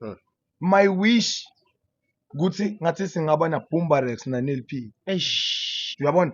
Mm. my wish ukuthi ngathi singaba na Bumbarex na Neil P Eish. uyabona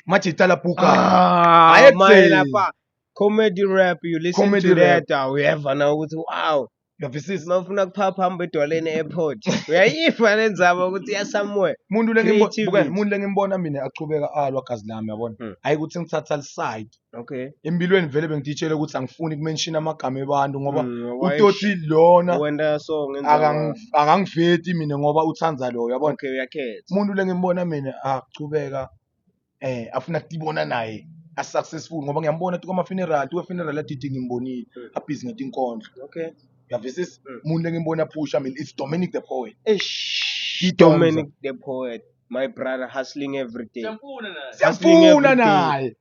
manje itala puka Ah, Ayekuzeli. manje lapha comedy rap you listen Comedy to rap. that awuyeva na ukuthi wow uyavisisa uma ufuna kuphapha hamba edwaleni e-airport uyayiva le ndzaba ukuthi iya somewhere umuntu lengimbo- Creativity. bukani, umuntu lengimbona mina achubeka alwa gazi lami yabona Mm. hayi ukuthi ngithatha liside okay empilweni vele bengitshela ukuthi angifuni kumenshina amagama ebantu ngoba Mm, why utoti lona wenda so ngenza akang- akangiveti mina ngoba uthanda loyo yabona okay uyakhetha umuntu lengimbona mina achubeka eh afuna kutibona naye asuccessful ngoba ngiyambona tu kwama-funeral tu we-funeral adidi ngimbonile Mm. abhizi ngetinkondlo okay uyavisisa Mm. umuntu lengimbona aphusha mina it's dominic the poet eish Idonsa. Dominic the poet my brother hustling every day Siyamfuna naye. Hustling hustling every every day. day.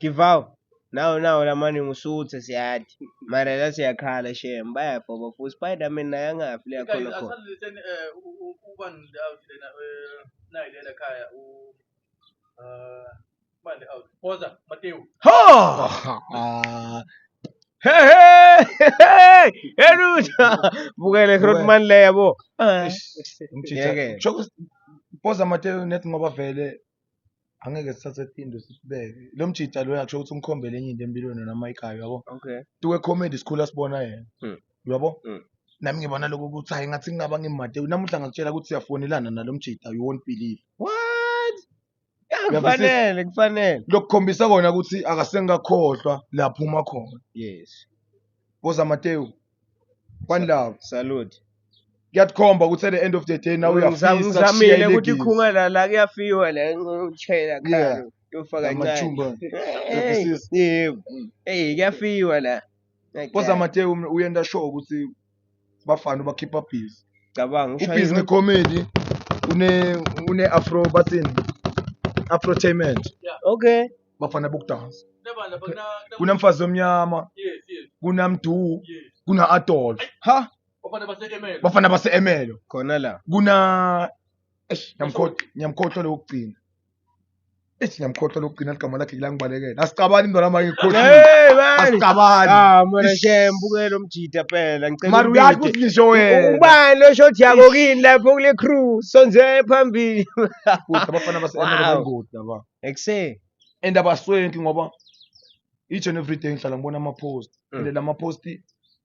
give out nawo nawo lamani ngusuthe siyathi mara la siyakhala shem bayabhoba for spiderman naye angafi le yakhona khona Oh! Hey, hey, hey, hey, Ruta! Bukele Grootman le yabo. Ngeke. Shokuthi Poza Mateo net ngoba vele angeke sithathe iphinde sisibeke lo mjita lo yakusho ukuthi umkhombele enye into empilweni yona mayikayo yabo okay tuwe comedy sikhula sibona yena hmm. yabo hmm. nami ngibona lokho ukuthi hayi ngathi ngingaba ngimade namuhla ngakutshela ukuthi siyafonelana nalo mjita you won't believe what kufanele kufanele lokukhombisa kona ukuthi akasengakhohlwa lapho uma khona yes boza matewu one love salute kuyathkomba ukuthi at the end of the day nawe uyafisa ngizamile ukuthi ikhunga la la kuyafiwa la ngitshela khalo yofa kancane yebo hey kuyafiwa la koza mate um, uyenda show ukuthi bafana ubakhipha busy cabanga ubhizi ngecomedy une une afro bathini afrotainment okay bafana bokudansa kunamfazi omnyama kunamdu kuna adolf ha bafana base-emelo khona la kuna eish ngiyamkhohlwa ngiyamkhohlwa lokugcina eish ngiyamkhohlwa lokugcina ligama lakhe kulangibalekela asicabani mntwana wami ngikhohlile Hey, man. asicabani Ah, mwana Eish. shem buke lo mjita phela ngicela mari uyazi umbide. ukuthi ngisho wena ubani lo shoti yako kini lapho kule crew sonze phambili Kude, abafana base-emelo Wow. bangoti laba ekuseni and abaswenki ngoba each and every day ngihlala ngibona ama-post Mm. and lama-post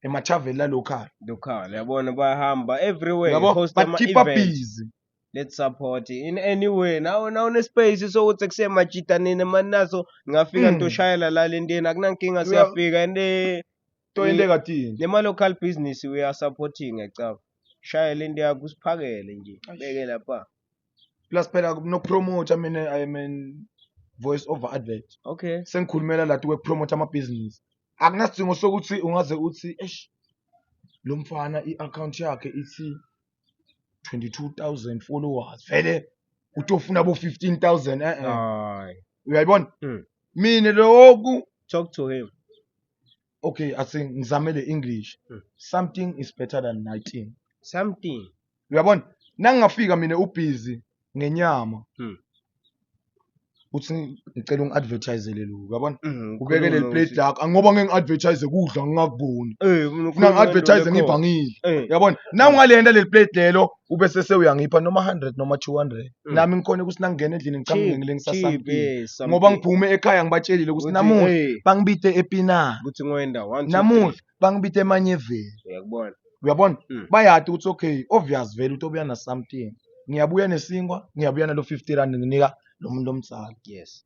emathaveni lalokhaya Local, yabona bayahamba everywhere. yabo host ama bakhipha events. busy Let's support in any way. Nawe nawe ne space sokuthi kusemajita nini manaso ngafika Mm. ntoshayela la lenteni akunankinga Uya- siyafika and eh, to into ekadini nema local business we are supporting ecaba. Shaya lento yakho usiphakele nje. Beke lapha. plus phela nokupromoter mina i am an voice over advert okay sengikhulumela lati kwekupromoter amabhizinisi akunasidingo sokuthi ungaze uthi eish lo mfana i-akhawunti yakhe ithi 22000 followers vele utofuna bo 15000 eh eh uyayibona hmm. mina loku talk to him okay asi ngizame le english Hmm. something is better than nothing something uyabona nangingafika mina ubhizi ngenyama Hmm. uthi ngicela ungi-advertisele lokhu uyabona Mm, ubekele khuluma liplate uthi- lakho angoba ngeke ngi-advertise kudla ngingakuboni Eh, funa ukhuluma ngento ngi-advertise lekhona. ngivangile Eh, uyabona nawungalenda leli plate lelo ube sese uyangipha noma 100 noma 200 Mm. nami ngikhona ukuthi nangingena endlini ngicabanga Keep- ngile ngisasam keep, kini eh, something. ngoba ngiphume ekhaya ngibatshelile ukuthi Ukuthi, namuhla eh, bangibithe epina ukuthi ngoyenda one two, namuhla bangibithe emanyeveni three. uyakubona uyabona Mm. bayati ukuthi okay obvious vele ukuthi obuya na something ngiyabuya nesinkwa ngiyabuya nalo 50 rand nginika lo muntu omsala yes